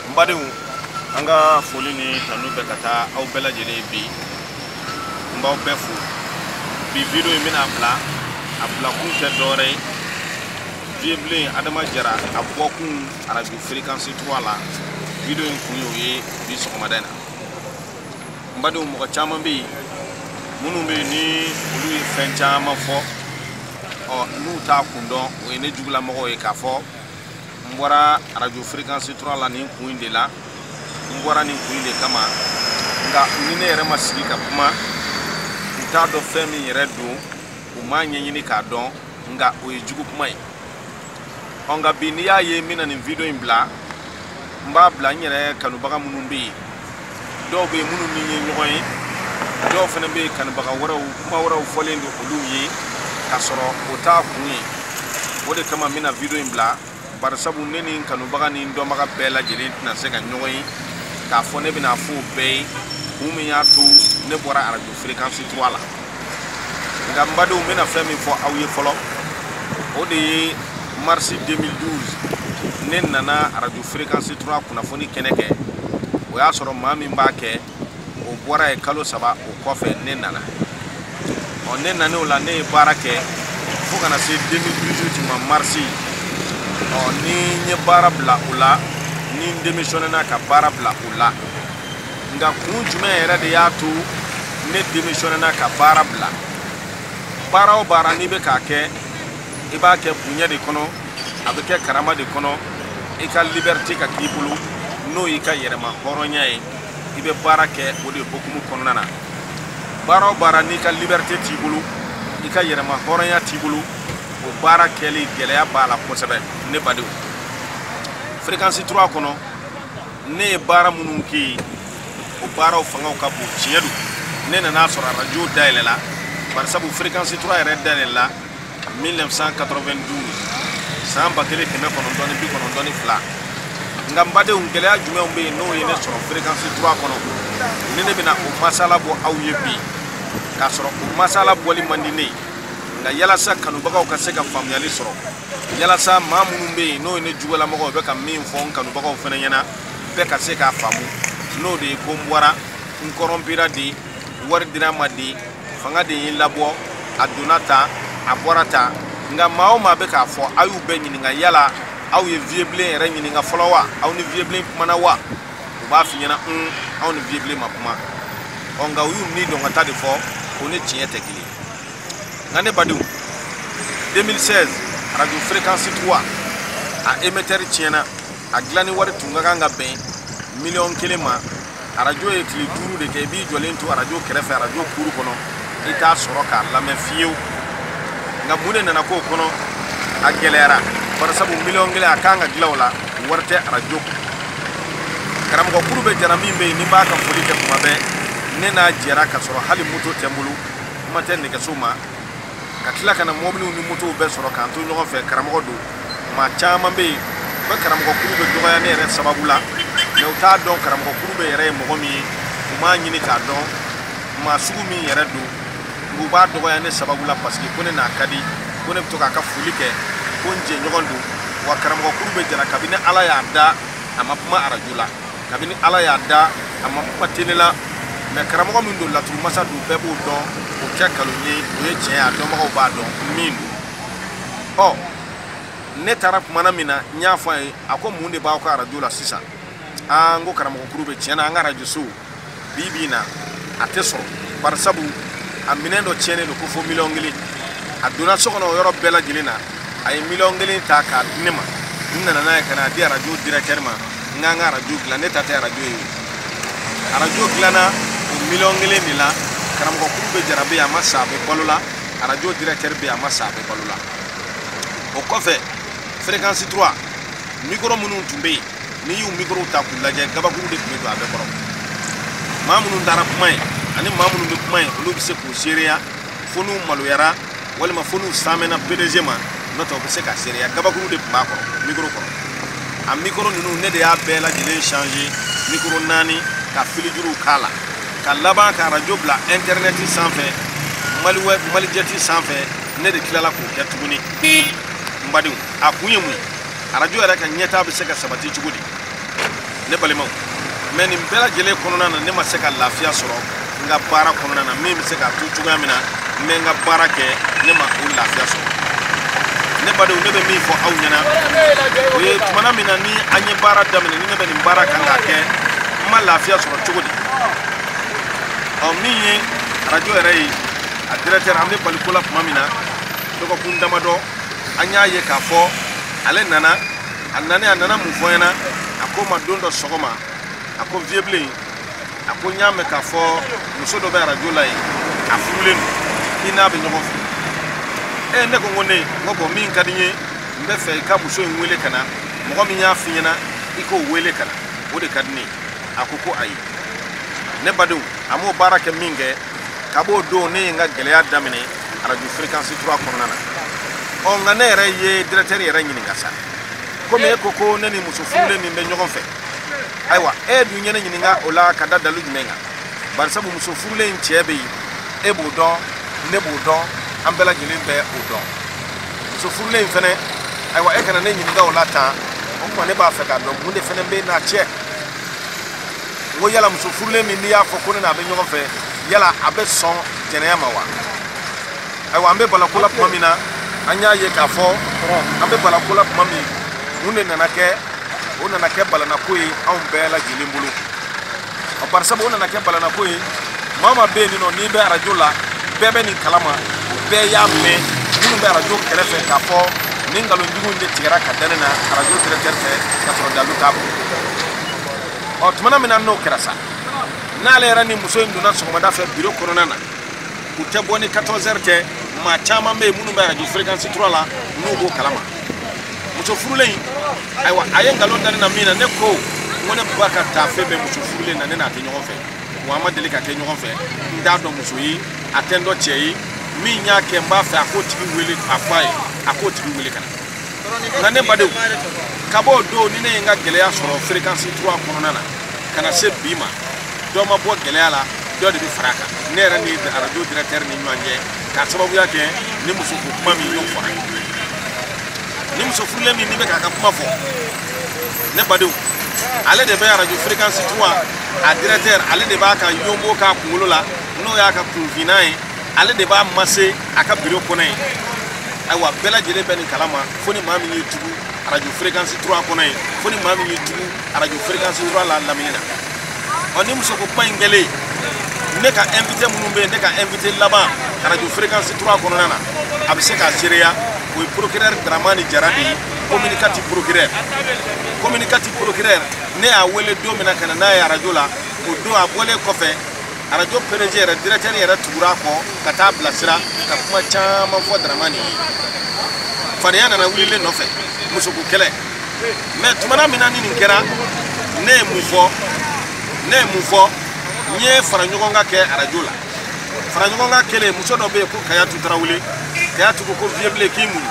n badenw an ka foli ni tanu bɛ ka taa aw bɛɛ lajɛlen ye bi n b'aw bɛɛ fo bi video in n bɛn'a bila a bilakun tɛ dɔwɛrɛ ye viyebilen adama jara a bɔkun arajo fréquence 3 la video in kun y'o ye bi sɔgɔmada in na n badenw mɔgɔ caman bɛ yen minnu bɛ yen ni olu ye fɛn caman fɔ ɔ n'u t'a kun dɔn o ye ne jugulamɔgɔw ye k'a fɔ n bɔra arajo fréquence 3 la nin kun de la n bɔra nin kun de kama nka ni ne yɛrɛ ma sigi ka kuma u t'a dɔn fɛn min yɛrɛ don u m'a ɲɛɲini k'a dɔn nka o ye jugu kuma ye ɔ nka bi n'i y'a ye n bɛna nin video in bila n b'a bila n yɛrɛ kanubaga minnu bɛ yen dɔw bɛ yen minnu ni n ye ɲɔgɔn ye dɔw fana bɛ yen kanubaga wɛrɛw kuma wɛrɛw fɔlen don olu ye k'a sɔrɔ o t'a kun ye o de kama n bɛna video in bila barisabu ne ni n kanubaga ni n dɔnbaga bɛɛ lajɛlen tɛna se ka ɲɔgɔn ye k'a fɔ ne bɛn'a fɔ u bɛɛ ye kun min y'a to ne bɔra arajo fréquence 3 la nka n badenw n bɛna fɛn min fɔ aw ye fɔlɔ o de ye marisi 2012 ne nana arajo fréquence 3 kunnafoni kɛnɛ kɛ o y'a sɔrɔ maa min b'a kɛ o bɔra yen kalo saba o kɔfɛ ne nana ɔ ne nan'o la ne ye baara kɛ fo ka na se 2018 ma marisi ɔ ni n ye baara bila o la ni n demisiyɔnena ka baara bila o la nka kun jumɛn yɛrɛ de y'a to ne demisiyɔnena ka baara bila baara o baara n'i bɛ k'a kɛ i b'a kɛ bonya de kɔnɔ a bɛ kɛ karama de kɔnɔ i ka liberite ka k'i bolo n'o y'i ka yɛrɛmahɔrɔnya ye i bɛ baara kɛ o de hokumu kɔnɔna na baara o baara n'i ka liberite t'i bolo i ka yɛrɛmahɔrɔnya t'i bolo o baara kɛli gɛlɛya b'a la kosɛbɛ ne badenw fréquence 3 kɔnɔ ne ye baara minnu kɛ yen o baaraw fangaw ka bon tiɲɛ don ne nan'a sɔrɔ arajo dayɛlɛla barisabu fréquence 3 yɛrɛ dayɛlɛla 1992 san ba kelen kɛmɛ kɔnɔntɔn ni bi kɔnɔntɔn ni fila nka n badenw gɛlɛya jumɛnw bɛ yen n'o ye ne sɔrɔ fréquence 3 kɔnɔ ni ne bɛna o masala bɔ aw ye bi k'a sɔrɔ o masala bɔli man di ne ye nka yalasa kanubagaw ka se ka faamuyali sɔrɔ yalasa maa minnu bɛ yen n'o ye ne jugulamɔgɔw bɛ ka min fɔ n kanubagaw fana ɲɛna bɛɛ ka se k'a faamu n'o de ye ko n bɔra n kɔrɔnpira de wari dira n ma de fanga de ye n labɔ a donna tan a bɔra tan nka maa o maa bɛ k'a fɔ aw y'u bɛɛ ɲininka yala aw ye viyebilen yɛrɛ ɲininka fɔlɔ wa aw ni viyebilen kumana wa u b'a f'i ɲɛna un anw ni viyebilen ma kuma ɔ nka u y'u nidungɔ ta de fɔ o ni tiɲɛ tɛ kelen nka ne badenw 2016 radio fréquence 3 a émetteur tiɲɛna a dilanni wari tun ka kan ka bɛn miliyɔn kelen ma arajo ye tile duuru de kɛ i b'i jɔlen to arajo kɛrɛfɛ arajo kuru kɔnɔ i t'a sɔrɔ k'a lamɛn fiyewu nka mun de nana k'o kɔnɔ a gɛlɛyara barisabu miliyɔn kelen a kan ka dilan o la wari tɛ arajo kun karamɔgɔ kurubɛ jara min bɛ yen ni n b'a ka foli kɛ tuma bɛɛ ne n'a jɛra ka sɔrɔ hali moto tɛ n bolo kuma tɛ nɛgɛso ma ka tila ka na mɔbiliw ni motow bɛɛ sɔrɔ k'an to ɲɔgɔn fɛ karamɔgɔ don maa caman bɛ yen u bɛ karamɔgɔ kurubɛ dɔgɔya ne yɛrɛ sababu la mɛ u t'a dɔn karamɔgɔ kurubɛ yɛrɛ ye mɔgɔ min ye u m'a ɲini k'a dɔn maa sugu min yɛrɛ don u b'a dɔgɔya ne sababu la paseke ko ne n'a ka di ko ne bɛ to k'a ka foli kɛ ko n jɛɲɔgɔn don wa karamɔgɔ kurubɛ jara kabini ala y'a da a ma kuma arajo la kabini ala y'a da a ma kuma tele la mɛ karamɔgɔ min don laturu masa don bɛɛ b'o dɔn o tɛ nkalon ye o ye tiɲɛ ye a dɔnbagaw b'a dɔn min don ɔ ne taara tumana min na n y'a fɔ a ye a ko mun de b'aw ka arajo la sisan aa n ko karamɔgɔ kurubɛ tiɲɛ na an ka arajo sow bi bi na a tɛ sɔrɔ barisabu a minɛn dɔ tiɲɛnen don ko fo miliyɔn kelen a donna so kɔnɔ o yɔrɔ bɛɛ lajɛlen na a ye miliyɔn kelen ta k'a di ne ma n nana n'a ye ka n'a di arajo directeur ma n k'an ka arajo dilan ne ta tɛ arajo ye arajo dilanna o miliyɔn kelen de la karamɔgɔ kurubɛ jara bɛ yen a ma sa a bɛ balo la arajo directeur bɛ yen a ma sa a bɛ balo la o kɔfɛ fréquence 3 mikoro minnu tun bɛ yen n'i y'u mikorow ta k'u lajɛ gabakuru de tun bɛ don a bɛɛ kɔrɔ maa minnu taara kuma yen ani maa minnu bɛ kuma yen olu bɛ se k'u seereya fo n'u maloyara walima fo n'u saamɛna pdg ma n'o tɛ u bɛ se k'a seereya gabakuru de tun b'a kɔrɔ mikoro kɔrɔ a mikoro ninnu ne de y'a bɛɛ lajɛlen change mikoro naani ka filijuruw k'a la ka laban ka arajo bila intɛrɛnɛti sanfɛ malijɛti sanfɛ ne de tilala k'o kɛ tuguni n badenw a kun ye mun ye arajo yɛrɛ ka ɲɛtaa bɛ se ka sabati cogo di ne balimaw mɛ nin bɛɛ lajɛlen kɔnɔna na ne ma se ka lafiya sɔrɔ n ka baara kɔnɔna na min bɛ se k'a to cogoya min na n bɛ n ka baara kɛ ne ma o lafiya sɔrɔ ne badenw ne bɛ min fɔ aw ɲɛna o ye tumana min na ni an ye baara daminɛ ni ne bɛ nin baara kan k'a kɛ n ma lafiya sɔrɔ cogo di ɔ min ye arajo yɛrɛ ye a directeur an bɛ bali ko la tuma min na dɔgɔkun damadɔ an y'a ye k'a fɔ ale nana a nanen a nana mun fɔ n ɲɛna a ko n ma don dɔ sɔgɔma a ko viyebilen a ko n y'a mɛn k'a fɔ muso dɔ bɛ arajo la yen a furulen don i n'a bɛ ɲɔgɔn fɛ e ne ko n ko ne n ko bɔn min ka di n ye n bɛ fɛ i ka muso in wele ka na mɔgɔ min y'a f'i ɲɛna i k'o wele ka na o de ka di ne ye a ko ko ayi ne badenw a m'o baara kɛ min kɛ ka b'o don ne ye n ka gɛlɛya daminɛ arajo fréquence 3 kɔnɔna na ɔ nka ne yɛrɛ ye directeur yɛrɛ ɲininka sa komi e ko ko ne ni muso furulen min bɛ ɲɔgɔn fɛ ayiwa e dun ye ne ɲininka o la ka da dalu jumɛn kan barisabu muso furulen in cɛ bɛ yen e b'o dɔn ne b'o dɔn an bɛɛ lajɛlen bɛ o dɔn muso furulen in fɛnɛ ayiwa e kana ne ɲininka o la tan o tuma ne b'a fɛ k'a dɔn mun de fɛnɛ bɛ n n'a cɛ n ko yala muso furulen min n'i y'a fɔ ko ne n'a bɛ ɲɔgɔn fɛ yala a bɛ sɔn jɛnɛya ma wa ayiwa an bɛ bala ko la tuma min na an y'a ye k'a fɔ an bɛ bala ko la tuma min mun de nana kɛ o nana kɛ balanako ye anw bɛɛ lajɛlen bolo ɔ barisabu o nana kɛ balanako ye maa min bɛ yen nɔ n'i bɛ arajo la bɛɛ bɛ nin kalama bɛɛ y'a mɛn minnu bɛ arajo kɛrɛfɛ k'a fɔ nin nkalonjugu in de tigɛra ka da ne na arajo directeur fɛ ka sɔrɔ dalu t'a bolo ɔ tumana min na n'o kɛra sa n'ale yɛrɛ ni muso in donna sɔgɔmada fɛ biro kɔnɔna na u tɛ bɔ ni 14 heures tɛ maa caman bɛ yen minnu bɛ arajo fréquence 3 la n'u b'o kalama muso furulen in ayiwa a ye nkalon da ne na min na ne ko n ko ne ba ka taafe bɛ muso furulen na ne n'a tɛ ɲɔgɔn fɛ wa an ma deli ka kɛ ɲɔgɔn fɛ n t'a dɔn muso ye a tɛ n dɔn cɛ ye min y'a kɛ n b'a fɛ a k'o tigi wele a fɔ a ye a k'o tigi wele ka na nka ne badenw ka b'o don ni ne ye n ka gɛlɛya sɔrɔ fréquence 3 kɔnɔna na ka na se bi ma dɔ ma bɔ gɛlɛya la dɔ de bɛ fara a kan ne yɛrɛ ni arajo directeur ni ɲɔgɔn cɛ k'a sababuya kɛ nin musoko kuma min y'o fɔra nin muso furulen min n'i bɛ k'a ka kuma fɔ ne badenw ale de bɛ arajo fréquence 3 a directeur ale de b'a ka yonbo k'a kunkolo la n'o y'a ka kunfinnan ye ale de b'a masser a ka biro kɔnɔ yen ayiwa bɛɛ lajɛlen bɛ nin kala ma fo ni maa min y'i tugu arajo fréquence 3 kɔnɔ yen fo ni maa min y'i tugu arajo fréquence 3 la lamini na ɔ nin musoko kuma in kɛlen ne ka invité minnu bɛ yen ne ka invité laban arajo fréquence 3 kɔnɔna na a bɛ se k'a seereya o ye procureur daramani jara de ye commune 4 procureur commune 4 procureur ne y'a wele don min na ka na n'a ye arajo la o don a bɔlen kɔfɛ arajo pdg yɛrɛ directeur yɛrɛ tugura a kɔ ka taa a bilasira ka kuma caman fɔ daramani ye fadenya nana wuli ne nɔfɛ musoko kɛlɛ mɛ tumana min na ni nin kɛra ne ye mun fɔ ne ye mun fɔ n ye faraɲɔgɔnkan kɛ arajo la faraɲɔgɔnkan kɛlen muso dɔ bɛ yen ko kayatu tarawele kayatu ko ko vieux blen k'i muɲu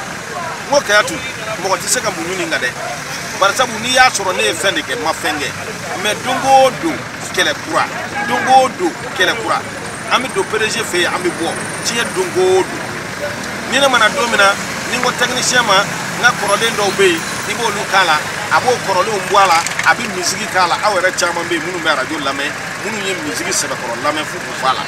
n ko kayatu mɔgɔ tɛ se ka muɲu nin kan dɛ barisabu n'i y'a sɔrɔ ne ye fɛn de kɛ n ma fɛn kɛ mɛ don o don kɛlɛ kura don o don kɛlɛ kura an bɛ don pdg fɛ yen an bɛ bɔ diɲɛ don o don ni ne mana don min na ni n ko tɛkinisiyɛn ma n ka kɔrɔlen dɔw bɛ yen i b'olu k'a la a b'o kɔrɔlenw bɔ a la a bɛ misigi k'a la aw yɛrɛ caman bɛ yen minnu bɛ arajo lamɛn minnu ye misigi sɛbɛkɔrɔ lamɛn fo k'u fa a la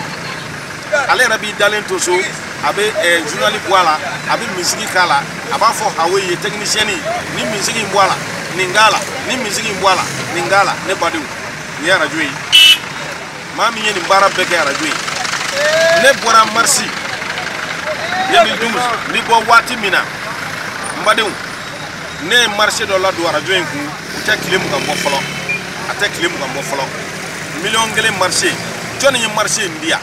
ale yɛrɛ b'i dalen to so a bɛ journal bɔ a la a bɛ misigi k'a la a b'a fɔ hawe ye tɛkinisiyɛni nin misigi in bɔ a la nin k'a la nin misigi in bɔ a la nin k'a la ne badenw nin ye arajo ye maa min ye nin baara bɛɛ kɛ arajo ye ne bɔra marisi 2012 n bɛ bɔ waati min na n badenw ne ye marché dɔ ladon arajo in kun o tɛ tile mugan bɔ fɔlɔ a tɛ tile mugan bɔ fɔlɔ miliyɔn kelen marché jɔnni ye marché in di yan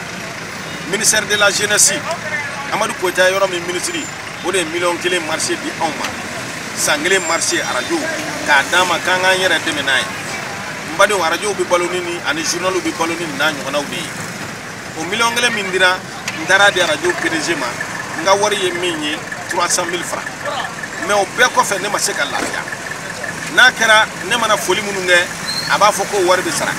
ministère de la jeunesse amadu koyita yɔrɔ min minisiri o de ye miliyɔn kelen marché di anw ma san kelen marché arajo k'a d'an ma k'an k'an yɛrɛ dɛmɛ n'a ye n badenw arajow bɛ balo ni nin ani journaliw bɛ balo ni nin n'a ɲɔgɔnnaw de ye o miliyɔn kelen min dira n taara a di arajo pdg ma n ka wari ye min ye 300 000 francs mais o bɛɛ kɔfɛ ne ma se ka lafiya n'a kɛra ne mana foli minnu kɛ a b'a fɔ k'o wari bɛ sara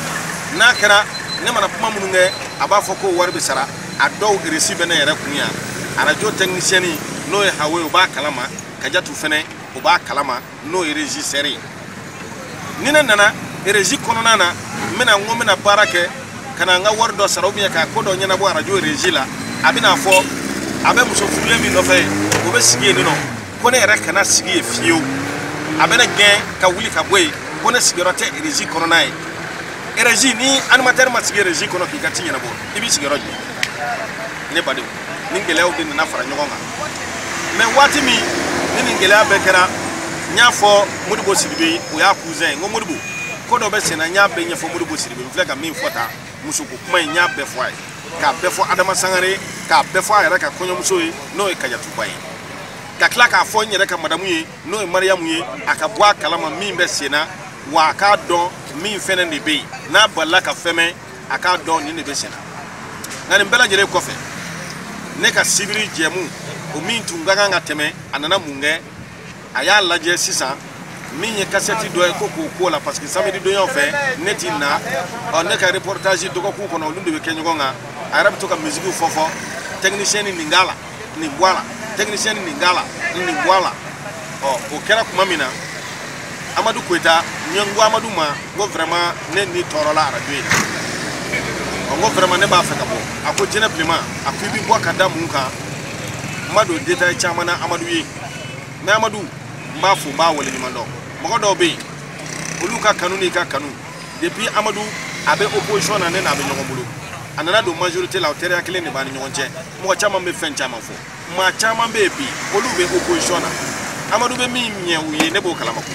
n'a kɛra ne mana kuma minnu kɛ a b'a fɔ k'o wari bɛ sara a dɔw reçu bɛ ne yɛrɛ kun yan arajo tɛkinisiyɛni n'o ye hawe o b'a kalama kajatu fɛnɛ o b'a kalama n'o ye régisseur ye ni ne nana régie kɔnɔna na n bɛna n ko n bɛna baara kɛ ka na n ka wari dɔ sara ubiyɛn ka ko dɔ ɲɛnabɔ arajo régie la a bɛn'a fɔ a bɛ muso furulen min nɔfɛ ye o bɛ sigi yen nɔ ko ne yɛrɛ kana sigi yen fiyewu a bɛ ne gɛn ka wuli ka bɔ yen ko ne sigiyɔrɔ tɛ régie kɔnɔna ye régie ni animateur ma sigi régie kɔnɔ k'i ka ci ɲɛnabɔ i b'i sigi yɔrɔ jumɛn ne badenw nin gɛlɛyaw de nana fara ɲɔgɔn kan mais waati min ni nin gɛlɛya bɛɛ kɛra n y'a fɔ modibo sidibe o y'a cousin ye n ko modibo ko dɔ bɛ senna n y'a bɛɛ ɲɛfɔ modibo sidibe n filɛ ka min fɔ tan musoko kuma in n y'a bɛɛ fɔ a ye k'a bɛɛ fɔ adama sangare k'a bɛɛ fɔ a yɛrɛ ka kɔɲɔmuso ye n'o ye kajatuba ye ka tila k'a fɔ n yɛrɛ ka madamu ye n'o ye mariyamu ye a ka bɔ a kalama min bɛ senna wa a k'a dɔn min fɛnɛ de bɛ yen n'a balila ka fermer a k'a dɔn nin de bɛ senna nka nin bɛɛ lajɛlen kɔfɛ ne ka sibiri jɛmu o min tun ka kan ka tɛmɛ a nana mun kɛ a y'a lajɛ sisan min ye kasɛti dɔ ye ko k'o k'o la parce que samedi donyaw fɛ ne ti na ɔ ne ka reportage dɔgɔkun kɔnɔ olu de bɛ kɛ ɲɔgɔn kan a yɛrɛ bɛ to ka misigiw fɔ fɔ tɛkinisiyɛni nin k'a la nin bɔ a la technicien nin k'a la nin nin bɔ a la ɔ o kɛra tuma min na amadu koyita n ye n ko amadu ma n ko vraiment ne ni tɔɔrɔla arajo in na ɔ n ko vraiment ne b'a fɛ ka bɔ a ko jinɛ bilenma a ko i bɛ bɔ ka da mun kan n ma don détail caman na amadu ye mais amadu n b'a fo n b'a waleɲuman dɔn mɔgɔ dɔw bɛ yen olu ka kanu n'i ka kanu depuis amadu a bɛ opposition na ne n'a bɛ ɲɔgɔn bolo a nana don majorité la o teriya kelen de b'an ni ɲɔgɔn cɛ mɔgɔ caman bɛ fɛn caman fɔ maa caman bɛ yen bi olu bɛ opposition na amadu bɛ min ɲɛ u ye ne b'o kalama ko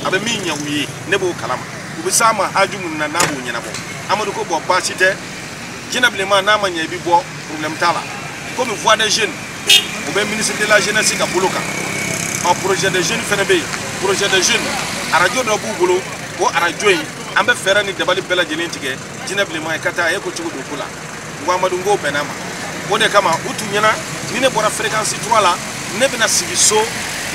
a bɛ min ɲɛ u ye ne b'o kalama u bɛ s'a ma haju minnu na n'a b'o ɲɛnabɔ amadu ko bɔn baasi tɛ jinɛ bilenma n'a ma ɲɛ i bɛ bɔ problème t'a la komi voix des jeunes u bɛ ministre de la jeunesse ka bolo kan ɔ projet des jeunes fana bɛ yen projet des jeunes arajo dɔ b'u bolo o arajo in an bɛ fɛɛrɛ ni dabali bɛɛ lajɛlen tigɛ jinɛ bilenma ye ka taa a ye ko cogo don ko la n ko amadu n ko n bɛnna a ma o de kama u tun ɲɛ na ni ne bɔra fréquence 3 la ne bɛna sigi so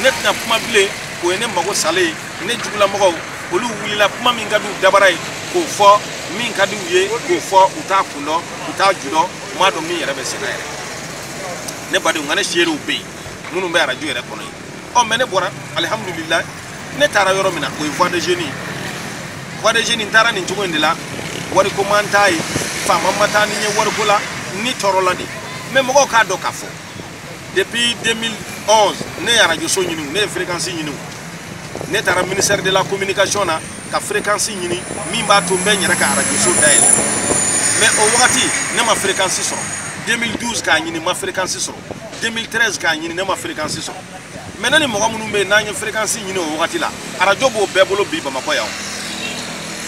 ne tɛna kuma bilen o ye ne mago salen ye ne jugulamɔgɔw olu wulila kuma min ka di u dabara ye k'o fɔ min ka di u ye k'o fɔ u t'a kun dɔn u t'a ju dɔn u m'a dɔn min yɛrɛ bɛ senna yɛrɛ ne badenw nka ne seerew bɛ yen minnu bɛ arajo yɛrɛ kɔnɔ yen ɔ mais ne bɔra alihamudulilahi ne taara yɔrɔ min na o ye voix des jeunes ye voix des jeunes n taara nin cogo in de la wariko ma n ta yen faama ma taa ni n ye wariko la ni tɔɔrɔ la de mais mɔgɔw k'a dɔn k'a fɔ depuis 2011 ne ye arajoso ɲini ne ye fréquence ɲini ne taara ministère de la communication na ka fréquence ɲini min b'a to n bɛ n yɛrɛ ka arajoso dayɛlɛ mais o wagati ne ma fréquence sɔrɔ 2012 k'a ɲini n ma fréquence sɔrɔ 2013 k'a ɲini ne ma fréquence sɔrɔ mais ne ni mɔgɔ minnu bɛ yen n'an ye fréquence ɲini o wagati la arajo b'o bɛɛ bolo bi bamakɔ yan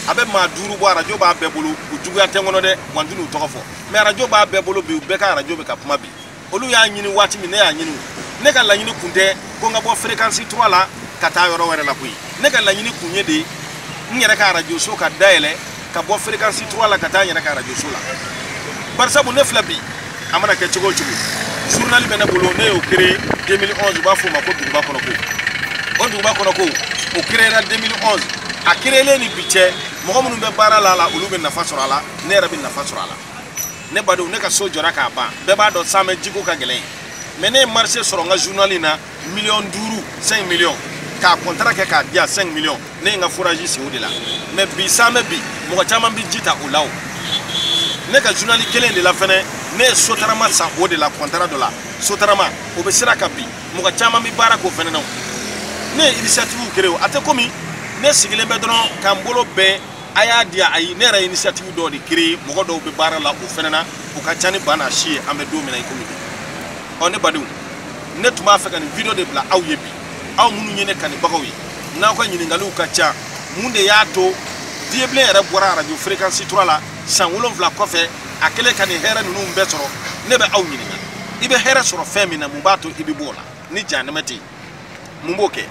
a bɛ maa duuru bɔ arajo b'a bɛɛ bolo u juguya tɛ n kɔnɔ dɛ wa n tɛna u tɔgɔ fɔ mais arajo b'a bɛɛ bolo bi u bɛɛ ka arajo bɛ ka kuma bi olu y'a ɲini waati min ne y'a ɲini ne ka laɲini kun tɛ ko n ka bɔ fréquence 3 la ka taa yɔrɔ wɛrɛ la koyi ne ka laɲini kun ye de n yɛrɛ ka arajoso ka dayɛlɛ ka bɔ fréquence 3 la ka taa n yɛrɛ ka radio so la barisabu ne filɛ bi a mana kɛ cogo o cogo journal bɛ ne bolo ne y'o créé 2011 u b'a fɔ o ma ko duguba kɔnɔ ko o duguba kɔnɔ ko o créera 2011 a créelen ni bi cɛ mɔgɔ minnu bɛ baara la a la olu bɛ nafa sɔrɔ a la ne yɛrɛ bɛ nafa sɔrɔ a la ne badenw ne ka so jɔra k'a ban bɛɛ b'a dɔn samɛ jiko ka gɛlɛn mais ne ye marché sɔrɔ n ka journal in na miliyɔn duuru 5 millions k'a kɔntara kɛ k'a diya 5 millions ne ye n ka forazi sen o de la mais bi samɛ bi mɔgɔ caman bɛ ji ta o la o ne ka journal kelen de la fɛnɛ ne ye sotarama san o de la kɔntara dɔ la sotarama o bɛ sira kan bi mɔgɔ caman bɛ baara k'o fɛnɛ na o ne ye initiative créé o a tɛ komi ne sigilen bɛ dɔrɔn ka n bolo bɛn a y'a di ayi ne yɛrɛ initiative dɔ de créer mɔgɔ dɔw bɛ baara la o fɛnɛ na u ka ca ni ba n'a si ye an bɛ don min na i komi bi ɔ ne badenw ne tun b'a fɛ ka nin video de bila aw ye bi aw minnu ye ne kanubagaw ye n'aw ka ɲininkaliw ka ca mun de y'a to vieux blen yɛrɛ bɔra arajo fréquence tura la san wolonfila kɔfɛ a kɛlen ka nin hɛrɛ ninnu bɛɛ sɔrɔ ne bɛ aw ɲininka i bɛ hɛrɛ sɔrɔ fɛn min na mun b'a to i bɛ bɔ o la ni janɛmɛ tɛ yen mun b'o kɛ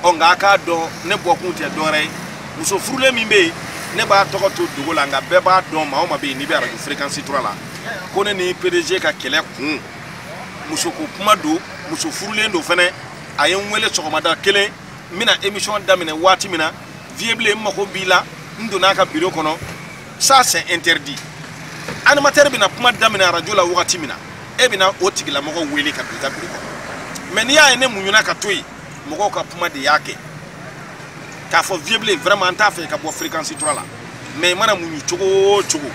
ɔ nka a k'a dɔn ne bɔkun tɛ dɔwɛrɛ ye muso furulen min bɛ yen ne b'a tɔgɔ to dogo la nka bɛɛ b'a dɔn maa o maa bɛ yen n'i bɛ arajo fréquence tura la ko ne ni pdg ka kɛlɛ kun muso ko kuma don muso furulen don fɛnɛ a ye n wele sɔgɔmada kelen n bɛna émission daminɛ waati min na vieux blen n mago b'i la n donna a ka biro kɔnɔ ça c'est interdit animateur bɛna kuma daminɛ arajo la wagati min na e bɛna o tigilamɔgɔ wele ka don i ka biro kɔnɔ mais n'i y'a ye ne muɲuna ka to yen mɔgɔw ka kuma de y'a kɛ k'a fɔ vieux blen vraiment an t'a fɛ ka bɔ fréquence tura la mais i mana muɲu cogo o cogo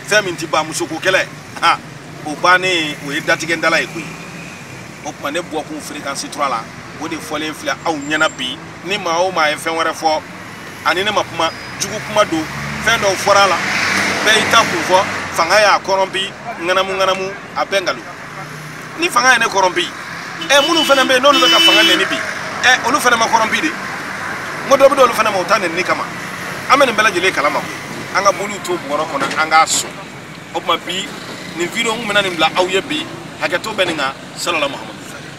fɛn min ti ban musoko kɛlɛ ha o bannen o ye datigɛndala ye koyi o tuma ne bɔkun fréquence tura la o de fɔlen filɛ aw ɲɛna bi ni maa o maa ye fɛn wɛrɛ fɔ ani ne ma kuma jugu kuma don fɛn dɔw fɔra a la bɛɛ y'i ta kun fɔ fanga y'a corrompu ŋanamu ŋanamu a bɛɛ nkalon ni fanga ye ne corrompu ɛ minnu fana bɛ yen n'olu bɛ ka fanga nɛni bi ɛ olu fana ma corrompu de n ko dɔ bɛ d'olu fana ma u ta nɛni kama an bɛ nin bɛɛ lajɛlen kalama koyi an ka boliw to bɔrɔ kɔnɔ an k'a sɔn o tuma bi nin video n tun bɛna nin bila aw ye bi hakɛto bɛ nin kan salala mahamadu